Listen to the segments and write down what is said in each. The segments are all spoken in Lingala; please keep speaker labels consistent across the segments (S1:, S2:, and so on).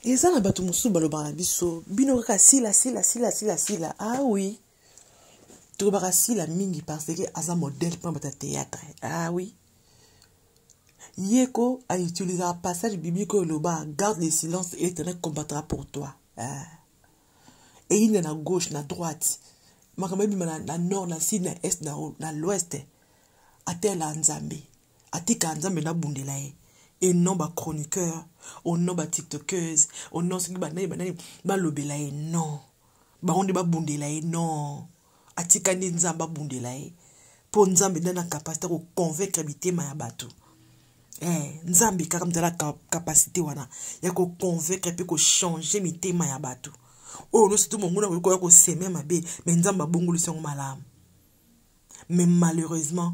S1: eza na bato mosusu balobaka na biso bino kaka sila sila sila sila sila ah oui tolobaka sila mingi parce que aza modèle mpona bato ya théâtre ah oui ye ko autilisaka passage biblique oyo eloba garde le silence et l'éternel combattra pour toi ah. eyinda na gauche na droite makambo ebima na, na nord na sud na est na, na l'ouest atela nzambe atika nzambe nabundela ye et non ba chroniqueur au non ba tiktokeuse au non soki banani banani balobela ye non bango nde babundela ye non atika nde nzambe abundela ye mpo nzambe nde na kapasite koconvaincre bitema ya bato eh, nzambe kaka mzala kapasite wana ya koconvaincre mpe kochange mitema ya bato oyo nyonso tu monguna koki koya koseme mabe me nzambe abongolisi yango malamu mais malheureusement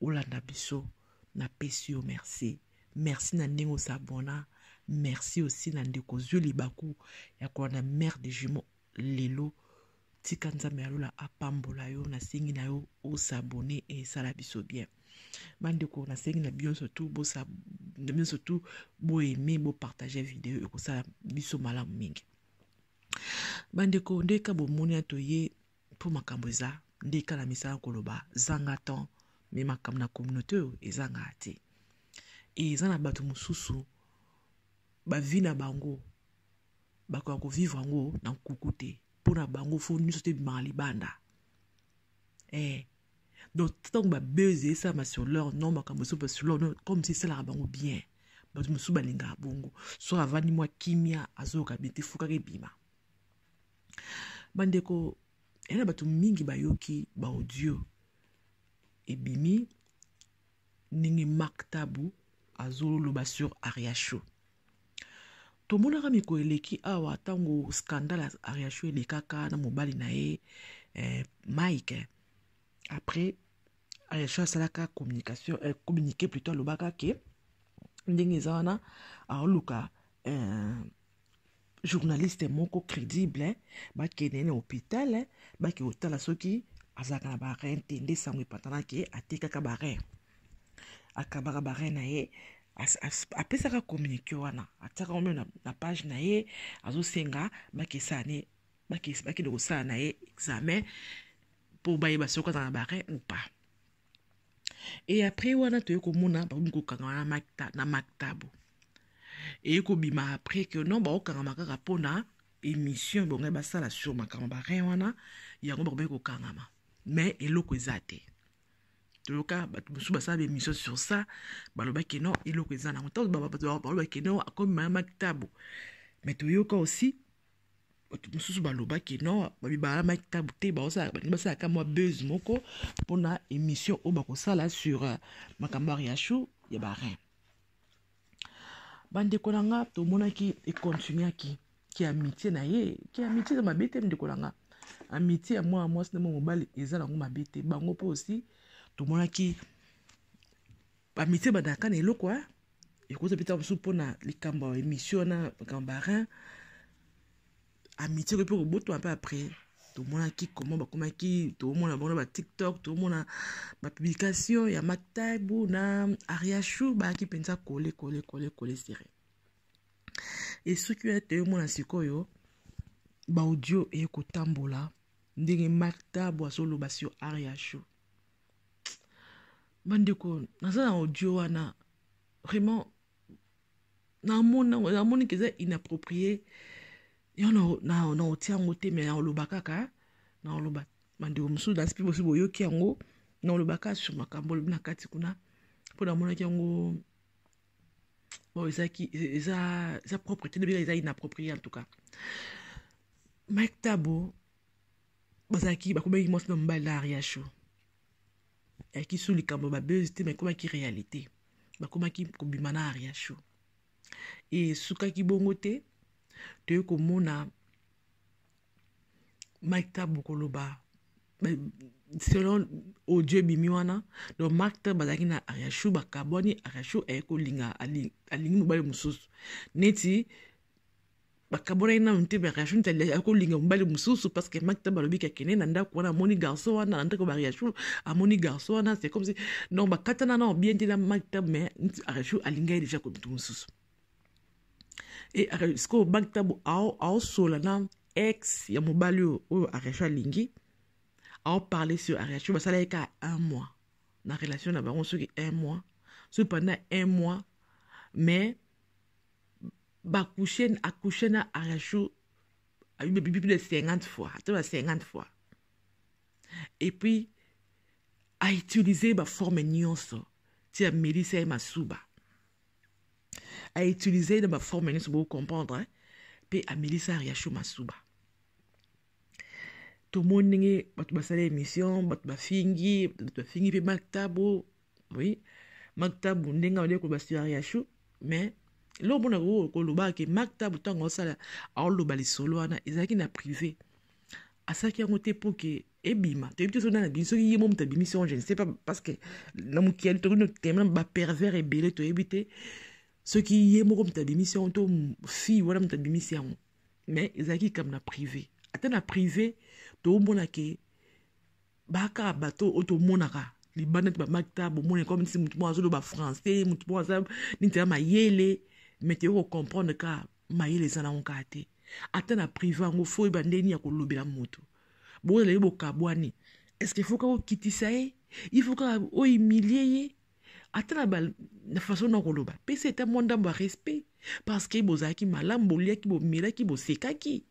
S1: olanda biso napesi yo merci merci na ndenge osabona merci aussi na ndeko ozwi libaku ya kolanda mare de jumeau lelo tika nzambe ya lola apambola yo nasengi na yo osabone esala biso bien bandeko nasengi na bino surtout bosa na bino surtout boaime bopartage video ekosala biso malamu mingi bandeko ndeka bomoni ya toye po makambo eza nde kala misala koloba zanga temps me makambo na communauté oyo ezangaka te e eza na bato mosusu bavi na bango bakoka kovivre yango na nkuku te mpo na bango fo nyonso te ebimaka libanda e donc ntango babeze esalama sur leur non makambo esoba sur leur non comme si esalaka bango bien bato mosusu balingaka bongo so avandi mwa kimia azoyoka bien te fokaka ebima bandeko ena bato mingi bayoki baaudio ebimi ndenge mark tabu azoloba sur ariacho tomonaka mikolo eleki awa ntango scandale ya ariacho elekaka na mobali na ye eh, mike après ariacho asalaka communication eh, communiqué plutôt alobaka ke ndenge eza wana aoluka eh, journaliste moko crédible hein? bakende na hôpital hein? bake kotala soki azalaka na barin te nde sango epatana ke atekaka barin akabaka barin na ye apesaka communiqué wana atiaka yango na, na page na ye azosenga bakesala ne bakende kosala na ye examen mpo bayeba soki azala na barin ou pas Et après wana toye komona bakomi kokangama na makta na maktabo. Eye kobima après que non bakokangama kaka mpo na émission bongai basala sur makambo barin wana yango bakomi kokangama mais eloko eza te toyoka bato mosusu basala baémission sur ça balobaki non eloko eza nango ntango balobaki non akomema ya maktabo mais toyoka aussi bato mosusu balobaki no babibalamaki ntango te balingi basalaka mwa buzz moko mpona émission oyo bakosala sur euh, makambo ya riachou ya barin bandeko na nga tomonaki econtinuaki ki amitié na ye ki amitié eza mabe te ndeko na nga amitié ya mwana mwasi na mwa mobali eza nango mabe te bango mpe osi tomonaki bamitie badaka na eloko ya ekoza bita mosusu mpo na likambo ya émission wana makambo barin amitie koki mpe kobotama mpe après tomonaki comment bakomaki tomona bango na batiktok tomona bapublication ya mataibu na ariachou bayaki mpenza kole kole kole kole sere esoki oya te omona sikoyo baaudio eye kotambola ndenge mataibu azoloba sur ariachou bandeko naza na audio wana vraiment namonaki eza inapproprie yo naotia yango te me naoloba kaka naoloba bandeko mosusu dasi mpe bosi boyoki yango naoloba kaka sur makambo olobi na kati kuna mpo namonaki yango bon ezaki eza eza propre te nobika eza inapproprie en tout cas mike tabo bazalaki bakomaki mwasi na mobali na ariacho yaki su likambo babezi te ma ekomaki réalité bakomaki kobima na ariacho esukaki bongo te toyei komona mike tabo koloba selon audio ebimi wana donc mark tan bazalaki na ariachou bakabwani ariachou aye kolinga alingi mobali mosusu neti bakabolaki nanu te bariachul tali akolinga mobali mosusu parce que makita balobi kakende na ndako wana amoni garçon wana na ndako bariachul amoni garçon wana c'est comme si donc bakatana nao bien te na makita mais ariachul alingaki deja komitu mosusu e sikoyo makita aosola na ex ya mobali oyo oyo ariachul alingi aoparle sur ariachul basalaki kaka un mois na relation na bango soki un mois soki pendant un mois mais ba coucher a coucher na arachou plus de 50 fois ata ba 50 fois et puis a utiliser ba forme nyonso ti amelisa ye masuba a utiliser ye na ba forme nyonso bo comprendre mpe amelisa arachou masuba tomoni ndenge bato basala émission bato bafingi bato bafingi mpe maktabo oui maktabu ndenge aolie koloba sur ariachou mais eloko mpo na kolobaka ke maktabu ntango aosala aoloba lisolo wana ezalaki na privé asalaki yango te mpo ke ebima toyebi te soki nana bini soki ye mo moto abimisi yango je ne sais pas parce que na mokili tokoki notema bapervers ebele toyebi te soki ye moko moto abimisi yango to fille wana moto abimisi yango mais ezalaki likambo na privé ata na privé toomona ke baka bato oyo tomonaka libanda te bamakita bomona ekoma neti motu moko azoloba français motu moko aza neti ya mayele mete yo kocomprendre ka mayele eza nango kaka te ata na prive yango fo oyeba ndenge nini ya kolobela motu bozala ye bokabwani estce fo kaka okitisa ye il faut kaka ohumilie ye ata na ba na façon na koloba pesa eta mwa ndambo ya respect parce que bozalaki malamu boliaki bomelaki bosekaki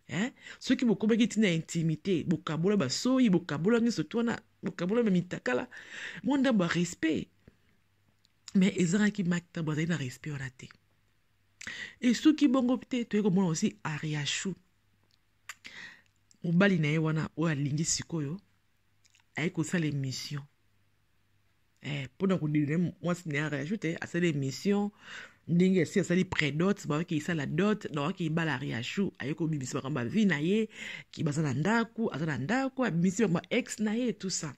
S1: hein? soki bokomaki ntina ya intimité bokabola basoyi bokabola nyonso to wana bokabola bamitakala mwa ndambo ya respect mais ezangaki makta bazali na respect wana te esuki bongo te toyei komona osi ariachou mobali na ye wana oyo alingi sikoyo ayei kosala emission eh, mpona kodelina mwasi na ya reaju te asali émission ndenge asi asali predot bawaki esala dot nawaki ebala riachu aye kobimisa makambo ya vie na ye ki baza na ndako aza na ndako abimisi makambo ya ex na ye tout ça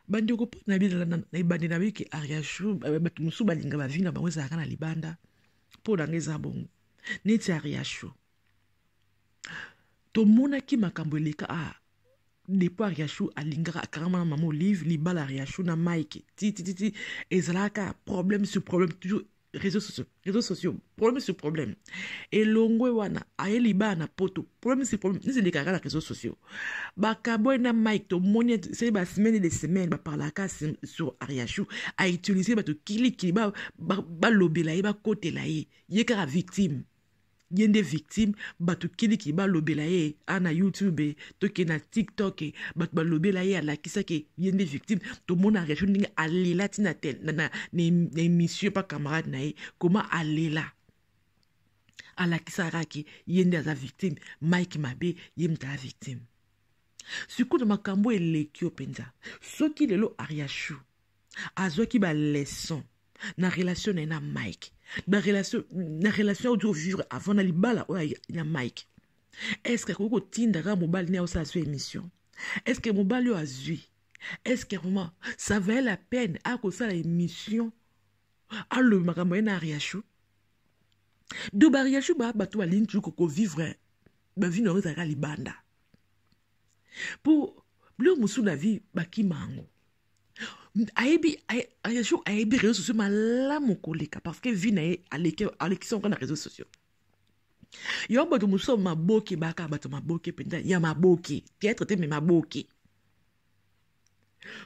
S1: bandeko mpo na ebandeli na biki ariachu eh, bato mosusu balinga bavi na bango ezalaka na libanda mpo na nga eza bongo neti ariachu tomonaki makambo eleka a ah, depo ariachou alingaka akangama na mama olive libala ariachou na mike titititi ezalaka problème sur problème toujours réseaux sociaux réseaux sociaux problème sur problème elongwe wana aye libala na poto problème sur problème nisi elekaka na réseaux sociaux bakabwe na mike tomoni seli basemaine de semaine baparlaka sur ariachou autilisé bato kilikili balobela ye bakotela ye ye kaka victime ba ye nde victime bato kiliki balobela ye a na youtube toke na tiktok bato balobela ye alakisaki ye nde victime tomona réaction ndenge alela ti na, na, na, na émission pa camarade na ye koma alela alakisaka ke ye nde aza victime mike mabe ye moto aza victime sikoyo na makambo eleki yo mpenza soki lelo ariachou azwaki baleson na relation na ye na mike na relation na relation oyo vivre avant na libala oyo na mike est ce que akoki kotinda kaka mobali ne osala so émission est ce que mobali oyo azwi est ce que vraiment ça valait la peine akosala émission alobi makambo ye na ariachou do bariachou ba bato balingi toujours kovivre bavi na yango ezalaka libanda mpo biloko mosusu na vie bakima yango ayebi jour ayebi réseaux sociaux malamu koleka parce que vie na ye alekisi yango na réseaux sociaux yo bato mosusu maboke baka bato maboke mpenza ya maboke théâtre te me maboke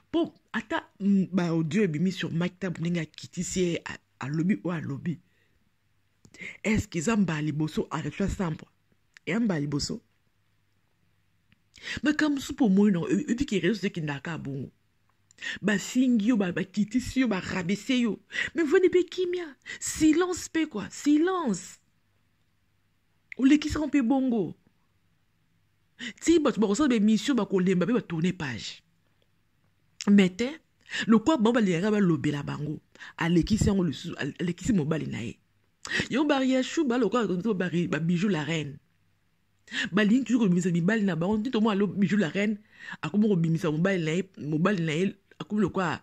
S1: mpo ata mm, baaudio ebimi sur maktab ndenge akitisi ye alobi oyo alobi eske eza mbala liboso arefla sambwa eya mbala liboso makambo mosusu mpo omoni nango oyebi ke rezo ekendaka kaka bongo bafingi yo bakitisi yo barabese yo me vandi mpe kimia silence mpe kua silence olekisaka mpe bongo ti bato bakosala baemission bakolemba mpe batourne page me te lokola bango balingaka balobela bango alekisi yango lisusu alekisi mobali na ye yango bariachou balokola babiju la reine balingi toujours kobimisa mibali na bango nde tomona lo bijou la reine akomi kobimisa mobali na ye mobali na ye akomi lokola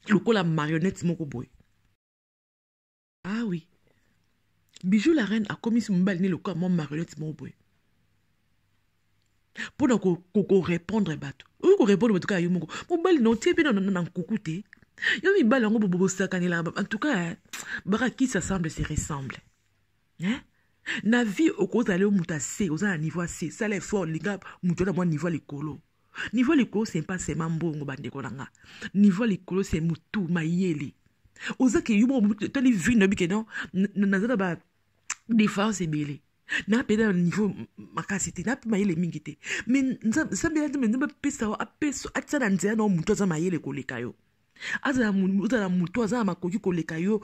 S1: lokola marionnette moko boye ah oui bijou la reine akomisi mobali ne lokola mwa marionnette moko boye mpo na korepondre bato oyo korepondre bato kaka yo moko mobali na otie mpe na nkuku te yo mibali yango bobosakanelaka en tout cas bakakisa semble se ressemble hein? na vie okozala yo moto ase oza na niveau ase sala effort linga moto na mwa niveau ya likolo niveau ya likolo se mpa sema mbongo bandeko na nga niveau ya likolo se motu mayele oza ke yo moko tali vie na bike non naza na ba différence ebele na mpe na niveau makasi te na mpe mayele mingi te me nzambe ya nzambe nzambe apesa yo apesa atia na nzela na yo motu aza mayele koleka yo azala motu aza na makoki koleka yo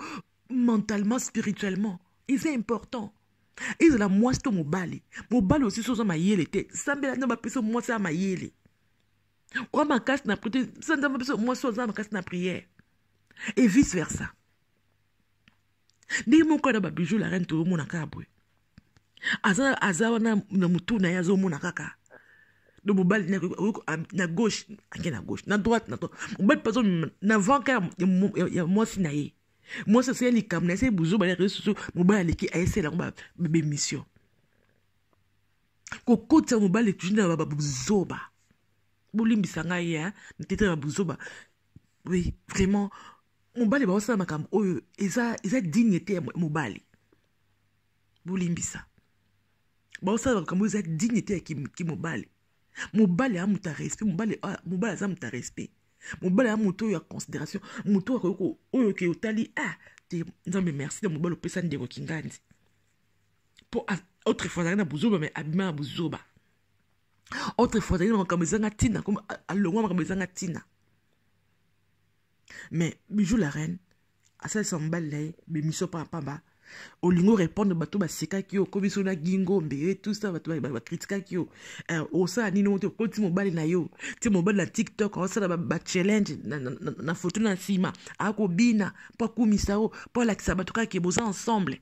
S1: mentalement spirituellement eza important ezala mwasi to mobali mobali osisi oza mayele te sambela nde bapesa mwasi ya mayele oa makasi na priere te sanza bapesa mwasi oza makasi na priere et vice versa ndenge moko na babijou la reine tozomona kaka boye aza, aza wana na motu na ye azomona kaka do mobali na gauche ake na gauche na droite na droite mobali mpe azomema na vanka ya mwasi na ye mwasi asali likambo na ye asali buzoba na réseau sociaux mobali aleki ayesala yango babemission kokotisa mobali toujours na babuzoba bolimbisa ngai ya mitete na babuzoba oui vraiment mobali baosala makambo oyo eza, eza digne te ya mobali bolimbisa baosala makambo oyo eza digne te ya kimobali ki mobali ya moto ya respect mobali ah, mobali aza moto ya respect mobali ya moto oyo ya considération moto oyo akoki oyo ke otali ah te nzambe merci na mobali opesa ndeko kingandi mpo autrefois azalaki na buzoba mai abima na buzoba autrefois azalaki na makambo ezanga ntina alongwa makambo ezanga ntina mais bijou la reine asalisa mobali na ye bemission pamba olingo répondre bato basekaki yo okomi so na gingo mbeye tout ça bato bakritikaki yo eh, osala nini ote okoti mobali na yo ti mobali na tiktok aosala bachallenge na foto na nsima akobina mpo akumisa yo mpo alakisa bato kaka boza ensemble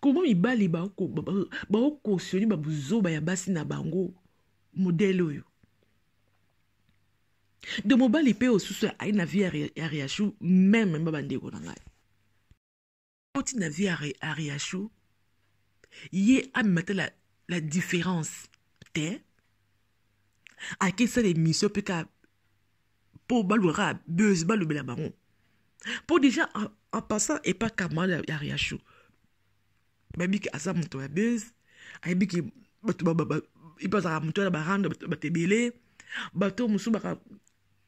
S1: Comment mibali ba cautionner ba buzoba ya basi na bango modèle oyo de mobali mpe osusu ayi na vie ya riachou meme mba bandeko na ngai oti na vie ya riachou ye amema te la, la différence te akesala émission mpe ka mpo balukaka buzz balobela bango mpo déjà en passant epa kamala ya riacho bayebi ke aza moto ya buzz ayebi ke bato epa azalaka moto wana barando bato ebele bato mosusu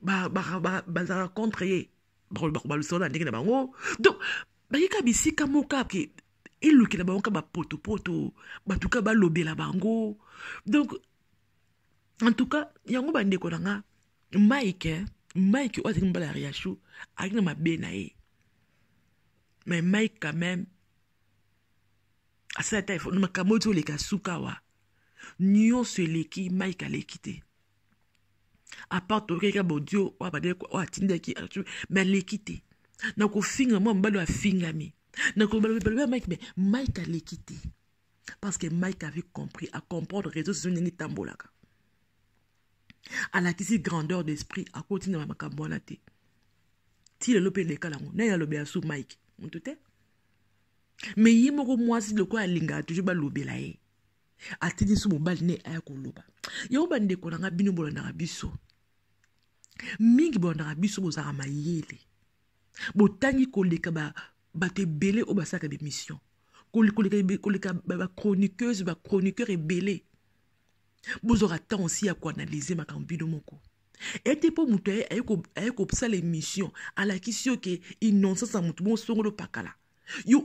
S1: bazalaka contre ye balusa wana ndenge na bango donc bayika bisika moko ake elukela bango ka bapotopoto bato ka balobela bango donc en tout cas yango bandeko na nga mike mike oyo azali mobala ya riachou azali na mabe na ye mais mike quand même asala ata efo makambo oti oleka suka wa nyonso eleki mike aleki te apart toyokaki ya bodio oyo abandaki oyo atindaki me aleki te na kofinga mwa mobali oyo afingami na koloba mibaloba ya mike me mike aleki te parce que mike avait compris à comprendre réseau sociaux ndenge etambolaka alakisi grandeur d'esprit akoti na makambo wana te ti lelo mpe eleka lango nani alobela su mike motu te me ye moko mwasi lokola alingaka toujours balobela ye atindi su mobali ne aya koloba yango bandeko na ngai bino bolandaka biso mingi bolandaka biso bozalaka mayele botangi koleka ba bato ebele oyo basalaka bemission koleka bachroniqueuse bachroniqueur ebele bozwaka temps osi ya koanalyse makambo bino moko ete mpo moto aye kosala emission alakisi yo ke innocence ya moto bosongolo pakala yo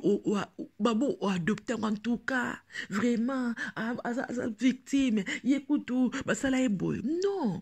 S1: babo oadopte yango antuka vraiment aza victime ye kutu basala ye boye non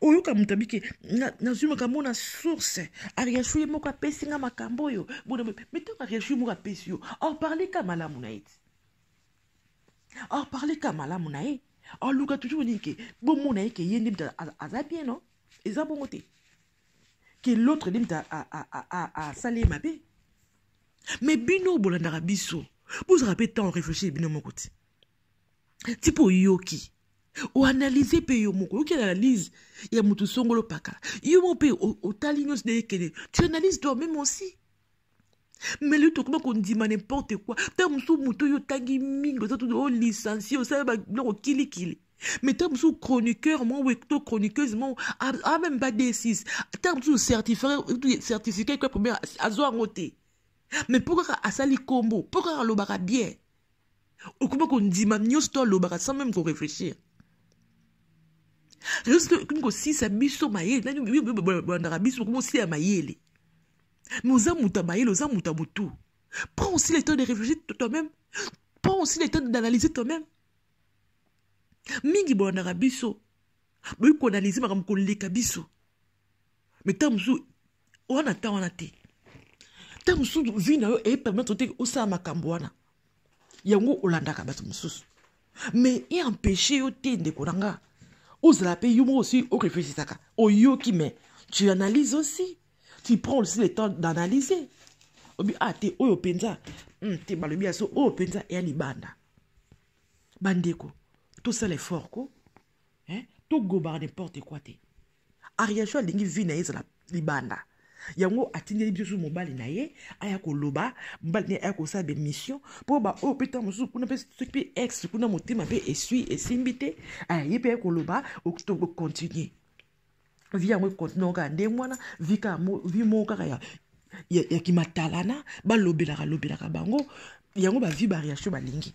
S1: oyoka moto abike nazwi makambo mona source ariashu ye moko apesi nga makambo oyo bona me ntango ariashu ye moko apesi yo aoparle ka malamu na ye ti aoparle ka malamu na ye aoluka toujours nini ke bomona ye ke ye nde moto aza bien no eza bongo te ke l'autre nde moto asala ye mabe me bino bolandaka biso bozala mpe ntango réfléchir bino moko ti ti mpe oyoki oanalyse mpe yo moko oyoki analyse ya motu songolo paka yo moko mpe otali nyonso nde ekende tu analyse toi meme aussi mais lelo tokoma kondima n'importe quoi ntango mosusu motu oyo otangi mingi oza tutu olicencie oh, osala biloko kilikili mais ntango mosusu chroniqueur moko to chroniqueuse moko a meme pas d6 ntango mosusu certificat ekwa première azwa yango te mais mpo kaka asali nkombo mpo kaka alobaka bien okoma kondima nyonso to alobaka sans meme koreflechir okomi kosisa biso mayele nanibolandaka biso bokomi osila ya mayele mais oza moto ya mayele oza moto ya motu prends aussi le temps de réfléchir toi-même prends aussi le temps d'analyser toi-même mingi bolandaka biso boyi koanalyse makambo koleka biso mais ntango mosusu oza na ntan wana te ntango mosusu vi na yo epermettre te osala makambo wana yango olandaka bato mosusu mais eempeshe yo te ndeko na nga ozala mpe yo moko osi oreflechisaka oyoki mais tu analyse aussi tu prends aussi le temps d'analyser obi a ah, te oyo mpenza hmm, te balobi ya so oyo mpenza eya libanda bandeko tosala effort ko hein to gobaka n'importe quoi te ariachou alingi vie na ye ezala libanda yango atindeli biso mobali na ye aya koloba mobali na ye aya kosala bemission mpo baoyo mpe ntango mosusu kuna mpe soki mpe ex kuna motema mpe esui esimbi te ye mpe aye koloba okontinue vi yango ekontinue kaka ndenge wana vi moko kaka ya, ya, ya kimatalana balobelaka lobelaka bango yango bavi bariacho balingi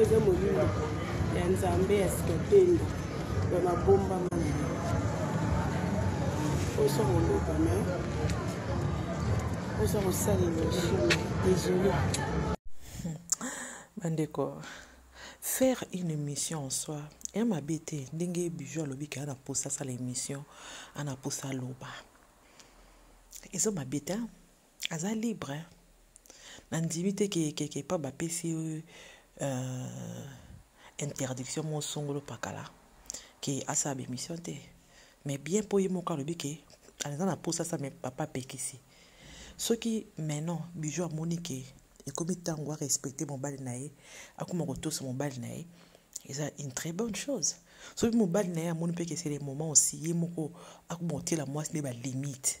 S2: eza molimo ya nzambe ya sikatendo ya mabomba mana osa koloba me osa kosalela chine désolé
S1: bandeko faire une émission en soi ya mabe te ndenge bijo alobi ke ana mposa asala émission ana mposa aloba eza mabe te aza libre hein? nandimi te kekeke epa bapesi euh, interdiction mo songolo pakala ke asala bemission te mais bien mpo ye moko alobi ke aza na mposa asa me papa apekisi soki maintenant bijou amoni ke ekomi ntango arespecte mobali na ye akoma kotosa mobali na ye eza une très bonne chose soki mobali na ye amoni mpe kesele moment osi ye moko akoma kotiela mwasi nde balimite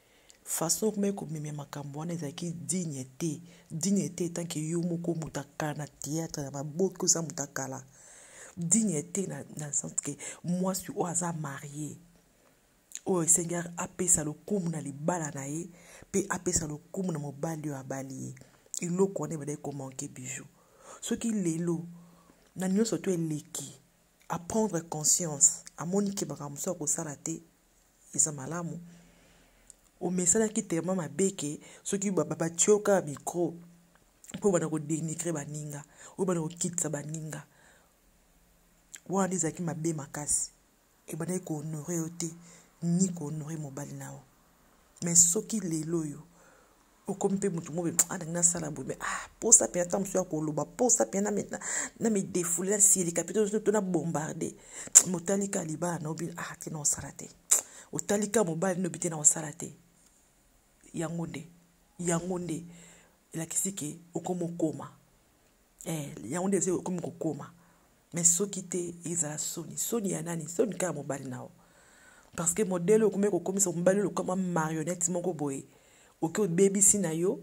S1: façon okomaki komemya makambo wana ezalaki digne te digne te etanke yo moko moto akala na théâtre na baboki oza moto akala digne te na, na sens ke mwasi oyo aza marie oyo esengeli apesa lokumu na libala na ye mpe apesa lokumu na mobali oyo abali ye eloko wana ebadaki komanke bijou soki lelo na nyonso to eleki aprendre conscience amoni ke makambo mosusu akosala te eza malamu omesanaki telema mabe ke soki batie yo kaka mikro mpo obanda kodenigre baninga obanda kokitisa baninga wana ezalaki mabe makasi ebandaki kohonore yo te ni kohonore mobali na yo mais soki lelo oyo okomi mpe motu mobe alingi ah, nasala boye mais ah mposa mpe ntango mosusu ya koloba mposa mpe na midefule na silika mpe to na bombarde motali ka libala na obi ah te na osala te otali ka mobali nobi te na osala te yango nde yango nde elakisi ke okomokoma eh, yango nde eza okomi kokoma me soki te ezala soni soni ya nani soni kaka mobali na yo parce que modele oyo okomi kokomisa mobali oyo lokama marionnette moko boye oke obebisi na yo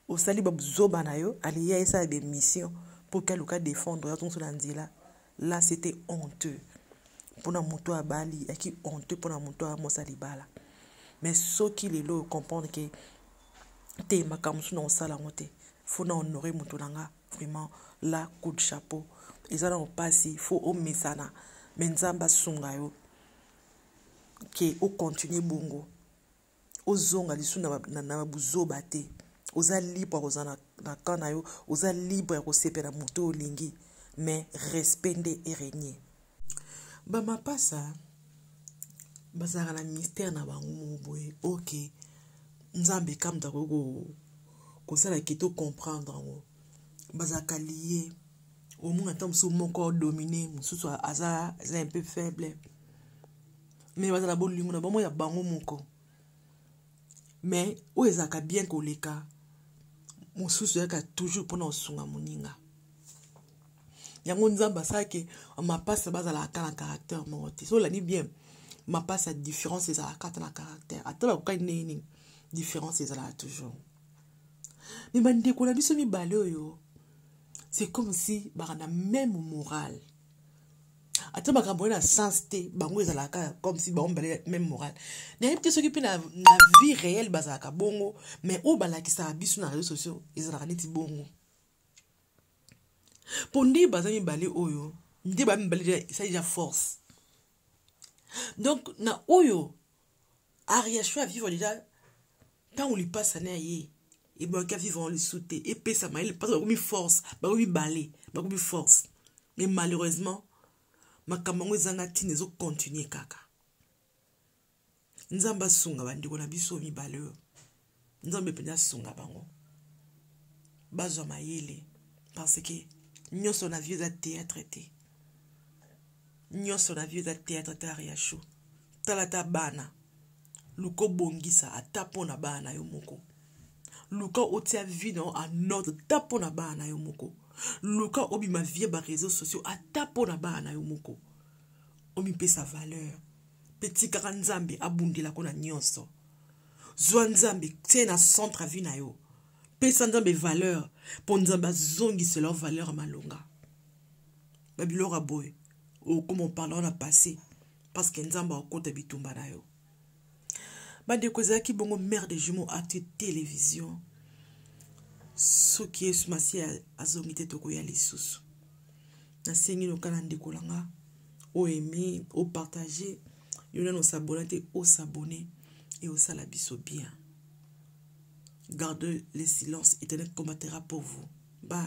S1: osali babuzoba na yo aliya esala bemission mpo oke aluka defendre oyo azongiso na nzela la c'était honteux mpo na moto oyo abali yaki honteux mpo na moto oyo amosa libala mais soki lelo oyo comprendre ke te makambo mosusu nakosala yango te fo na honore moto na nga vraiment la coup de chapeau eza na opasi fo omesana me nzambe asunga yo ke okontinue bongo ozonga lisusu na, na, na buzoba te oza libre ya kozala na, na camp na yo oza libre ya kosepela moto oyo olingi mais respect nde eregne bamapasa bazalaka na mystère na bango moko boye ok nzambe kamta koki kosala ke to comprendre yango bazalaka liye omona ntango mosusu moko domine mosusu aza aza un peu faible mais bazala bolingo na bango ya bango moko mais oyo ezalaka bien koleka mosusu yaka toujours mpona kosunga moninga yango nzambe asalaki mapasa bazalaka ata na caractère moko te so olandi bien mapasa différence ezalaka ata na caractère ata bakokani ndenge nini différence ezalaka toujours me bandeko na biso mibale oyo c'est comme si baka na même morale ata makambo wana sens te bango ezalaka kaka comme si bango mibale même morale nayebi te soki mpe na, na vie réelle bazalaka bongo mais oyo balakisaka biso na réseau sociaux ezalaka neti bongo mpo nde baza mibale oyo nde ba mibale esa deja force donc na oyo Ariachou a vivre déjà ntango lipasa na ye ebwaki a vivre yango lisusu te epesa mayele mpasi bakomi force bakomi bale bakomi force mais malheureusement makambo yango ezanga ntina ezokontinue kaka nzambe asunga bandeko na biso mibale oyo nzambe mpenza asunga bango bazwa mayele parce que nyonso na vie eza théâtre te nyonso na vie eza théâtre te ariacho tala ata bana luka obongisa ata mpo na bana na yo moko luka otia vie na yo en ordre ata mpo na bana na yo moko luka obima vie ba réseaux sociaux ata mpo na bana na yo moko omipesa valeur mpe tikaka nzambe abundelako na nyonso zwa nzambe tie na centre ya vie na yo pesa nzambe valeur mpo nzambe azongisela yo valeur ya malonga babiloko ya boye okoma opalao na passé parce que nzambe akokota bitumba na yo bandeko ezalaki bongo mare de jumeau acte télévision soki yesu masiya azongi te tokoya lisusu nasengi noka na ndeko na nga o aime o partage yo nani osabona te osabone e osala biso bien garde le silence internet combattera pour vous ba